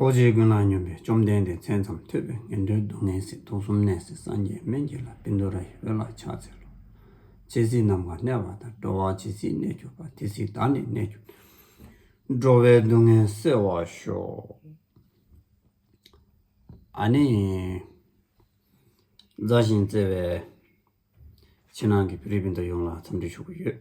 རྡོ་རྗེའི་ཀུན་སློང་སྙོམས་པས་བཅོམ་ལྡན་འདས་མཚན་ཙམ་ཐོས་པས་ངན་འགྲོའི་སྡུག་བསྔལ་སྲིད་དུག་གསུམ་ནད་སྲི་སངས་རྒྱས་སྨན་གྱི་ལྷ་བིནྡུ་ར་ཡི་འོད་ལ་ཕྱག་འཚལ་ལོ། ཇི་སྲིད་ནམ་མཁའ་གནས་པ་དང་འགྲོ་བ་ཇི་སྲིད་གནས་གྱུར་པ་དེ་སྲིད་བདག་ནི་གནས་གྱུར་ཏེ། འགྲོ་བའི་སྡུག་བསྔལ་སེལ་བར་ཤོག། ཨ་ནི། མཛའ་ཞིང་བརྩེ་བའི། ཕྱི་ནང་གི་བོད་རིགས་སྤུན་ཟླ་ཡོངས་ལ་འཚམས་འདྲི་ཞུ་གི་ཡོད།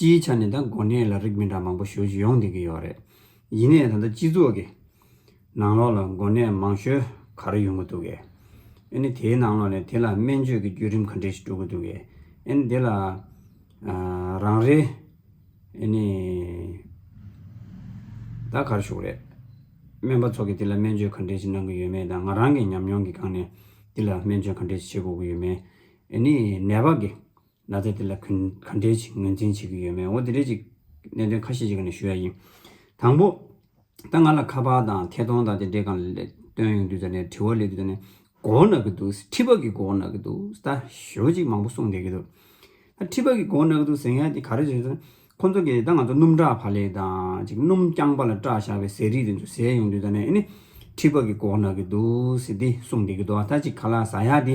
སྤྱིའི་ཆ་ནས་ད་མགོ་ནད་ལ་རིགས་མི་འདྲ་མང་པོ་ཞོལ་གྱི་ཡོང་སྡིག་གི་ཡོད་རེད། ཡིན་ནའི་ད་ལྟ་སྤྱི་ཚོགས་ཀྱི་ནང་ལོགས་ལ་མགོ་ནད་མང་ཤོས་ག་རེ་ཡོང་གི་འདུག་གས། ཨེ་ནི་དེའི་ནང་ལོགས་ནས་དེ་ལ་སྨན་བཅོས་ཀྱི་བརྒྱུད་རིམ་ག་འདྲས་ཤིག་དཀྲུག་གི་འདུག་གས། ཨེ་ནི་དེ་ལ་རང་རེ་ཨེ་ནི་ད་གར་བཞུགས་རེད། སྨན་པ་ཚོ་གས་དེ་ལ་སྨན་བཅོས་ག་འདྲས་ཤིག་གནང་གི་ཡོད་མེད་དང་ང་རང་གི་ཉམས་མྱོང་གི་སྒང་ནས་དེ་ལ་སྨན་བཅོས་ག་འདྲས་ཤིག་བྱེད་དགོས་ཀྱི་ཡོད་མེད། ཨེ་ནི་ནད་པ་གས། ན་ཚ་དེ་ལ་ག་འདྲའི་ཞིག་ངོས་འཛིན་བྱེད་ཀྱི་ཡོད་མེད་འོ་དེ་འདྲའི་ཅིག་གནད་དོན་ཁ་ཤས་ཞིག་གི་ནང་ཞུ་ཡ་ཡིན། དང་པོ། ད་ང་ལ་ཁ་པར་དང་ཐད་གཏོང་དང་དེ་འདྲའི་གང་ལས་བཏོན་ཡོང་དུས་ད་ནས་དྲི་བ་ལས་དུས་ད་ནས་མགོ་བོ་ན་གི་འདུག་ཟེར་ཁྲི་པ་གི་མགོ་བོ་ན་གི་འདུག་ཟེར་ད་ཞོ་ཅིག་མང་པོ་གསུངས་བསྡད་ཀྱི་འདུག་ད་ཁྲི་པ་གི་མགོ་བོ་ན་གི་འདུག་ཟེར་ཡ་དེ་ག་རེ་ཟེར་ན། ཁོ་ཚོ་གིས་ད་ང་ཚོ་སྣུམ་བྲག་བྷ་ལེ་དང་ཅིག་སྣུམ་རྐྱང་པ་ལ་སྐྲག་བཞག་པའི་ཟས་རིགས་དེ་ཚོ་ཟས་ཡོང་དུས་ད་ནས་ཨེ་ནི། ཁྲི་པ་གི་མགོ་བོ་ན་གི་འདུག་ཟེར་དེ་གསུངས་བསྡད་ཀྱི་འདུག་ད་ཅིག་ག་ལ་ཟ་ཡ་དེ་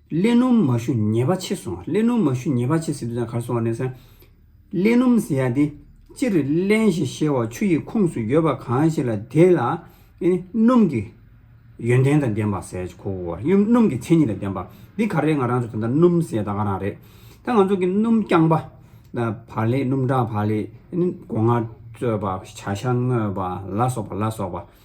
ཀླད་སྣུམ་མ་ཞུ་ཉེས་པ་ཆེ་སོང་ཀླད་སྣུམ་མ་ཞུ་ཉེས་པ་ཆེ་སྲིད་དུ་ད་གར་སོང་བ་ནས་བཟུང། ཀླད་སྣུམ་ཟེར་ཡ་དེ་སྤྱིར་ཀླན་ཞེས་བཤད་བ་ཆུ་ཡི་ཁུངས་སུ་ཡོད་པ་གང་ཞིག་ལ་དེ་ལ་ནི་སྣུམ་གྱི་ཡོན་ཏན་དང་ལྡན་པ་ཟེར་གོ་སྣུམ་གྱི་མཚན་ཉིད་དང་ལྡན་པ་འདི་ག་རེད་ང་རང་ཚོ་ད་ལྟ་སྣུམ་ཟེར་ད་ག་རང་རེད། ད་ང་ཚོ་གི་སྣུམ་རྐྱང་པ། བ་ལེ་སྣུམ་འདྲ་བ་ལེ། སྒོ་ང་བཙོས་པ་བྱ་ཤ་བརྔོས་པ་ལ་སོགས་པ་ལ་སོགས་པ།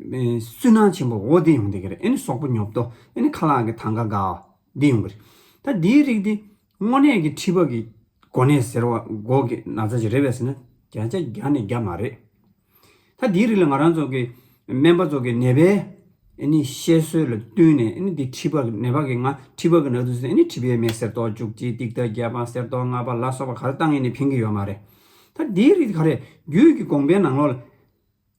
སུན་སྣང་ཆེན་པོ་འོ་དེ་ཡོང་དེ་གི་རེད་ཨེ་ནི་སོག་པོ་ཉོབ་ཏོ་ཨེ་ནི་ཁ་ལག་གི་ཐང་ག་ག་འོ་དེ་ཡོང་གི་རེད། ད་དེའི་རིགས་དེ་དངོས་གནས་ཀྱི་ཁྲི་པ་གི་གོ་གནས་ཟེར་བ་སྒོ་གི་ན་ཚ་ཞིག་རེད་བས་ཟེར་ན་བརྒྱ་ཆ་བརྒྱ་ནས་བརྒྱ་མ་རེད། ད་དེའི་རིགས་ལ་ང་རང་ཚོ་གི་སྨན་པ་ཚོ་གི་ནད་པའི་ཨེ་ནི་བཤད་སྲོལ་ལ་བསྟུན་ནས་ཨེ་ནི་དེ་ཁྲི་པ་ནད་པ་གི་ང་ཁྲི་པ་གི་ནག་དུ་ཟེར་ཨེ་ནི་ཁྲི་པའི་མེ་གསེར་ཏོག་བཅུ་གཅིག་ཏིག་ཏག་བརྒྱད་པ་གསེར་ཏོག་ལྔ་པ་ལ་སོགས་པ་ག་རེ་བཏང་ཨེ་ནི་ཕན་གི་ཡོད་མ་རེད། ད་དེའི་རིགས་དེ་ག་རེད་རྒྱུད་ཀྱི་དགོངས་པའི་ནང་ལོགས་ལ།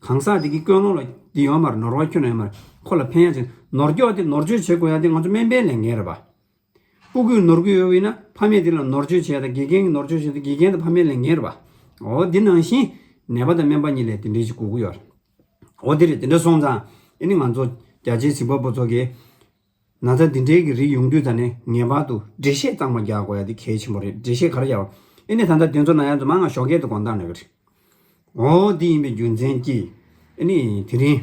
གང་ཟག་དེ་གི་ཀོན་སློང་ལ་འདི་ཡོང་མར་ནོར་བ་ཁྱོད་ལ་ཡོང་མར་ཁོ་ལ་ཕན་ཡག་ཅིག་ནོར་འགྱོག་དེ་ནོར་བཅོས་བྱེད་དགོས་ཡག་དེ་ང་ཚོ་སྨན་པའི་ལས་འགན་རེད་པ། སྤུ་གུས་ནོར་གུས་ཡོད་ན་ཕ་མས་དེ་ལ་ནོར་བཅོས་བྱེད་ཡག་དང་དགེ་རྒན་གི་ནོར་བཅོས་བྱེད་དེ་དགེ་རྒན་དང་ཕ་མའི་ལས་འགན་རེད་པ། འོ་དེ་ནང་བཞིན་ནད་པ་དང་སྨན་པ་གཉིས་ལས་དེ་འདྲའི་ཅིག་གོ་གི་ཡོད། འོ་དེ་རེད་དེ་འདྲ་སོང་ཙང་དེ་ནི་ང་ཚོ་རྒྱ་ཆེའི་གཟིགས་པ་པོ་ཚོ་གིས་ན་ཚ་འདི་འདྲའི་གི་རིགས་ཡོང་དུས་ད་ནི་ངེས་པར་དུ་འགྲེལ་བཤད་གཙང་མ་རྒྱག་དགོས་ཡ་འདི་གལ་ཆེན་པོ་རེད་འགྲེལ་བཤད་ག་རེ་རྒྱག་ཨེ་ནི་ད་ལྟ་དེ་ཚོ་ན་ཡ་ཚོ་མ་ང་ཞོགས་སྐད་དུ་དགོངས་དག་ནས་གི་རེད་འོ་འདི་ཡིན་པའི་རྒྱུ་མཚན་གྱིས་ཨེ་ནི་དེ་རིང་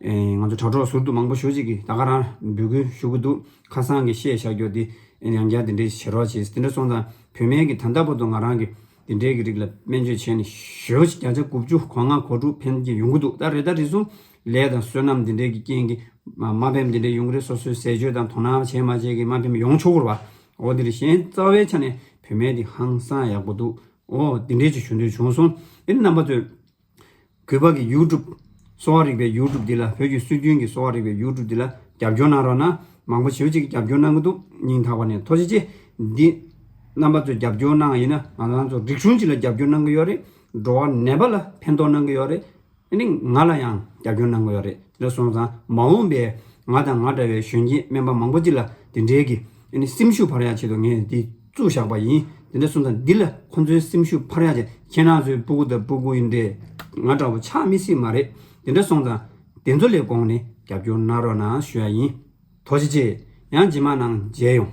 ང་ཚོ་དྲ་གྲོགས་ཟུར་དུ་མང་པོ་ཞུ་གཅིག་གིས་ད་ག་རང་འབོད་སྐུལ་ཞུ་གི་འདུག་ཁ་སང་གི་བཤད་བྱ་རྒྱོ་དེ་ཡང་བསྐྱར་དེ་འདྲས་བྱེད་རོགས་བྱས་ཟེར་དེ་འདྲ་སོང་ཙང་བུད་མེད་གི་ད་ལྟ་བར་དུ་ང་རང་གི་དེ་འབྲེལ་གྱི་རིགས་ལ་སྨན་བཅོས་བྱས་ནས་ཞོ་བྱི་བརྒྱ་ཆ་དགུ་བཅུ་གོ་ལྔ་གོ་དྲུག་ཕན་གྱི་ཡོང་གི་འདུག་ད་རེས་ད་རེས་སུ་ལས་དང་བསོད་ནམས་དེ་འབྲེལ་གྱི་རྐྱེན་གྱིས་མ་ཕེབས་དེ་འབྲེལ་ཡུང་རེ་སོ་སོས་ཟས་སྤྱོད་དང་དོ་སྣང་བྱས་མ་བྱས་ཀྱིས་མ་ཕེབས་ཡོང་ཆོག་གི་རེད་བ་འོ་དེ་རེས་གཞན་རྩ་བའི་ཆ་ནས་བུད་མེད་འདི་ཧང་སང་ཡག་པོ་འདུག་འོ་དེ་འབྲེལ་གྱི་ཞུ་འདོད་བྱུང་སོང་དེ་ནི་རྣམ་པ་ཚོས། གུས་པ་གི་ཡུའུ་ཀྲུབ། གསོ་བ་རིག་པའི་ཡུའུ་ཀྲུབ་འདི་ལ་བོད་ཀྱི་སྲོལ་རྒྱུན་གྱི་གསོ་བ་རིག་པའི་ཡུའུ་ཀྲུབ་འདི་ལ་རྒྱབ་སྐྱོར་གནང་རོགས་གནང། མང་པོ་བྱེའུ་གཅིག་གི་རྒྱབ་སྐྱོར་གནང་གི་འདུག་སྙིང་ཐག་པ་ནས་མཐོ་ཆེ་ཆེ། འདི། རྣམ་པ་ཚོས་རྒྱབ་སྐྱོར་གནང་བ་ཡིན་ན་ང་རང་ཚོ་རིག་གཞུང་སྤྱི་ལ་རྒྱབ་སྐྱོར་གནང་གི་ཡོད་རེད། འགྲོ་བ་ནད་པ་ལ་ཕན་ཐོག་གནང་གི་ཡོད་རེད། དེ་ནི་ང་ལ་ཡང་རྒྱབ་སྐྱོར་གནང་གི་ཡོད་རེད་དེ་ལ་སོང་ཙང་མ་འོངས་པའི་ང་དང་ང་འདྲ་བའི་གཞོན་སྐྱེས་སྨན་པ་མང་པོ་སྤྱི་ལ་དེ་འདྲའི་གི། སེམས་ཤུགས་བར་ཡག་ཆེད་དུ་ངས་འདི། བཙུགས་བཞག་པ་ཡིན། དེ་འདྲ་གསུངས་ཙང་འདི་ལ་ཁོང་ཚོའི་སེམས་ཤུགས་འཕར་ཡག་ཅིག་ཁྱེད་རང་ཚོའི་སྤུ་གུ་དང་སྤུ་གུ་ཡིན་འདྲེ་ང་འདྲ་བོ་ཆགས་མི་སྲིད་མ་རེད་དེ་འདྲ་སོང་ཙང་དེ་ཚོ་ལས་དགོངས་ནས་རྒྱབ་སྐྱོར་གནང་རོགས་གནང་ཞུ་ཡག་ཡིན། དོ་ཅི་ཅི། ཡང་ཇི་མ་གནང་མཇལ་ཡོང།